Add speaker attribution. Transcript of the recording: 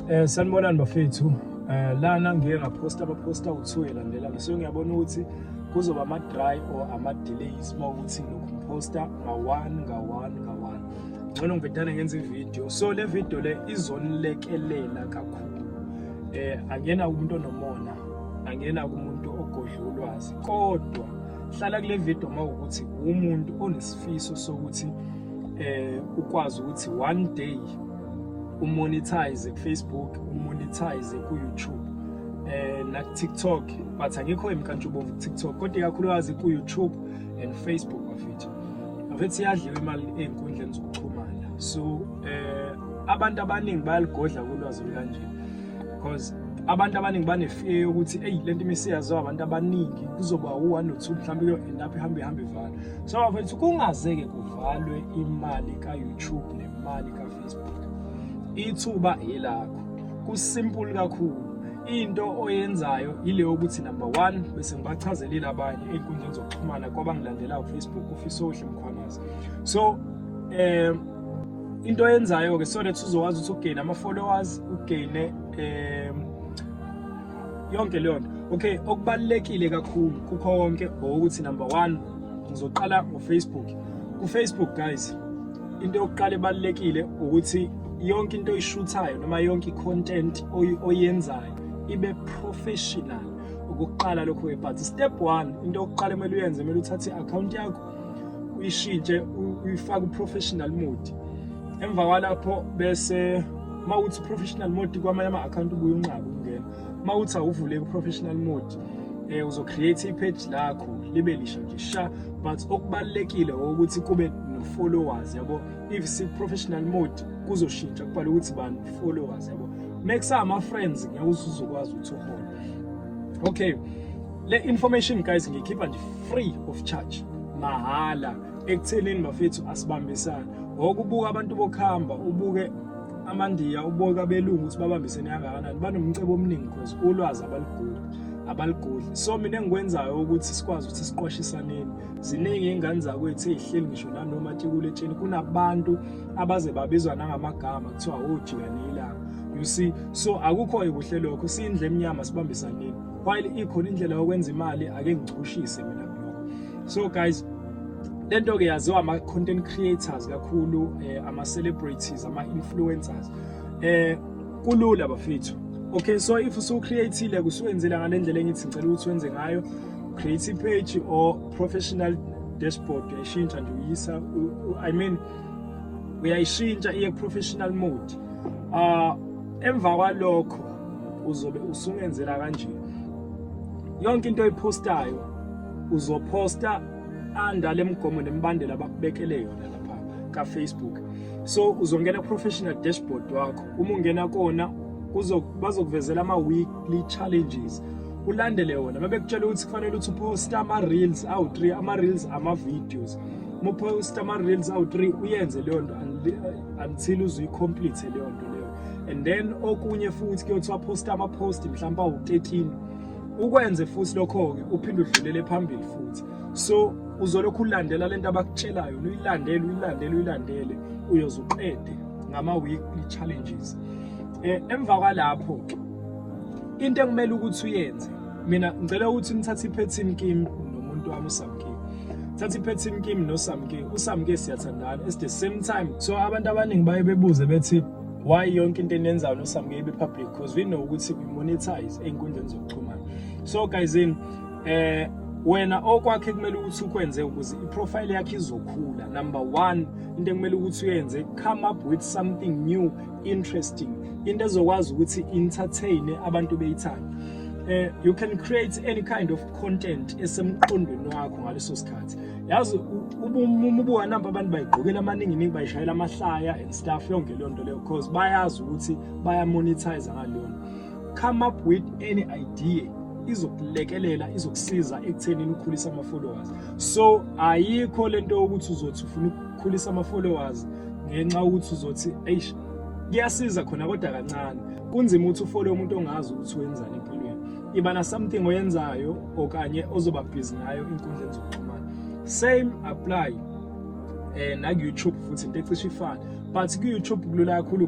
Speaker 1: Eh sanibonani bafethu. Eh lana ngiye ngaposta abaposta uthuye landela ngisuke ngiyabona ukuthi kuzoba ama dry or ama delays uma ukuthi lokhu posta nga one nga one nga one. Ngcono ngibhedane ngenza ivideo. So le video le izonilekelela kakhulu. Eh angena umuntu onomona, angena kumuntu ogodla ulwazi. Kodwa hlala kule video uma ukuthi umuntu onesifiso sokuthi eh ukwazi ukuthi one day umonetize kufacebook umonetize kuyoutube eh nakutiktok but angikho emkantshubomvu kutiktok kodwa ikakhulukazi kuyoutube and facebook bafethu bafethu iyadliwa imali ey'nkundleni zokuxhumana so eh abantu abaningi bayaligodla kulwazi olukanje because abantu abaningi banefear yokuthi eyi le nto imisiyaziwa abantu abaningi kuzoba u-one or two mhlawumbe kuyo-end up ihambe ihambe ivalwe so bafethu kungazeke kuvalwe imali ka-youtube imali kafacebook ithuba yelakho kusimple kakhulu into oyenzayo yileyo ukuthi number one bese ngibachazelile abanye ey'nkundleni zokuxhumana kwabangilandelayo kufacebook ufisa ohle mkhwanazi so um into oyenzayo-ke so that uzokwazi ukuthi ugeyine ama-followers ugeyine um yonke leyo nto okay okubalulekile kakhulu kukho konke ukuthi number one ngizoqala ngofacebook kufacebook guys into yokuqala ebalulekile ukuthi yonke into oyishuthayo noma yonke i-content oyenzayo ibe professional ukuqala lokho webhathi step one into yokuqala kumele uyenze kumele uthathe i-akhawunti yakho uyishintshe uyifake uprofessional mode emva kwalapho bese uma uthi professional mode kwamanye ama-akhawunti ubuye unqabe ukungena uma uthi awuvuleki professional mode eh uzo create ipage lakho libe lisha nje sha but okubalekile ukuthi kube no followers yabo if si professional mode kuzoshintsha kubhala ukuthi bani followers yabo make sama friends ngeke uzokwazi ukuthi uhole okay le information guys ngikhipha nje free of charge mahala ekuthenini bafethu asibambisana ngokubuka abantu bokuhamba ubuke amandiya uboka belungu ukuthi babambisene kangakanani banomcebo omningi cause ulwazi abaluguli abaligudli so mina engikwenzayo ukuthi sikwazi ukuthi siqwashisaneni ziningi ingane zakwethu ezihleli ngisho nanoma tikule tsheni kunabantu abaze babizwa nangamagama kuthiwa ojikanile oh, ilanga you see so akukho ekuhle lokho siyindle emnyama sibambisaneni while ikhona indlela yokwenza imali ake ngichushise mina so guys lento ke yaziwa ama content creators kakhulu eh, ama celebrities ama influencers eh kulula bafethu okay so if usu createile kusuwenzela ngalendlela engithi ngicela ukuthi wenze ngayo create page or professional dashboard uyayishintsha nje uyisa i mean uyayishintsha iye professional mode ah emva kwalokho uzobe usungenzela kanje yonke into oyipostayo uzoposta under lemigomo nemibandela abakubekele yona lapha ka Facebook so uzongena professional dashboard wakho uma ungena kona bazokuvezela ama weekly challenges ulandele wona mabekutshela ukuthi kufanele uthi uposta ama reels awu 3 ama reels ama videos uma uposta ama reels awu 3 uyenze leyo nto until uzuyikomplete leyo nto leyo and then okunye futhi kuyothiwa posta ama post mhlawumbe awu 13 ukwenze futhi lokho-ke uphinde udlulele phambili futhi so uzolokhu ulandela lento abakutshelayo uyilandele uyilandele uyilandele uyoze uqede ngama-weekly challenges eh emva kwalapho into ekumele ukuthi uyenze mina ngicela ukuthi nithathe iphethini kimi nomuntu wami usamkini thatha iphethini kimi nosamkini usamkini siyathandana it's the same time so abantu abaningi baye bebuze bethi why yonke into eniyenzayo nosamuye ibe public because we know ukuthi we monetize ey'nkundleni zokuxhumana so guys in eh wena okwakhe kumele ukuthi ukwenze ukuze iprofile yakhe izokhula number one into ekumele ukuthi uyenze come up with something new interesting into ezokwazi ukuthi entertain abantu beyithanda uh, you can create any kind of content esemqondweni wakho ngaleso sikhathi yazi umubuka namba abantu bayigqokela amaningi ningi bayishayela amahlaya and stuff yonke leyo nto leyo because bayazi ukuthi bayamonetize ngaleyo nto come up with any idea izokulekelela izokusiza ekuthenini ukhulise ama-followers so ayikho le nto yokuthi uzothi ufuna ukukhulisa ama-followers ngenxa yokuthi uzothi eish kuyasiza khona kodwa kancane kunzima ukuthi ufole umuntu ongazi ukuthi wenzani empilweni iba na something oyenzayo okanye ozoba busy ngayo inkundleni zokuxhumana same apply eh na ku-YouTube futhi into ecishe ifane but ku-YouTube kulula kakhulu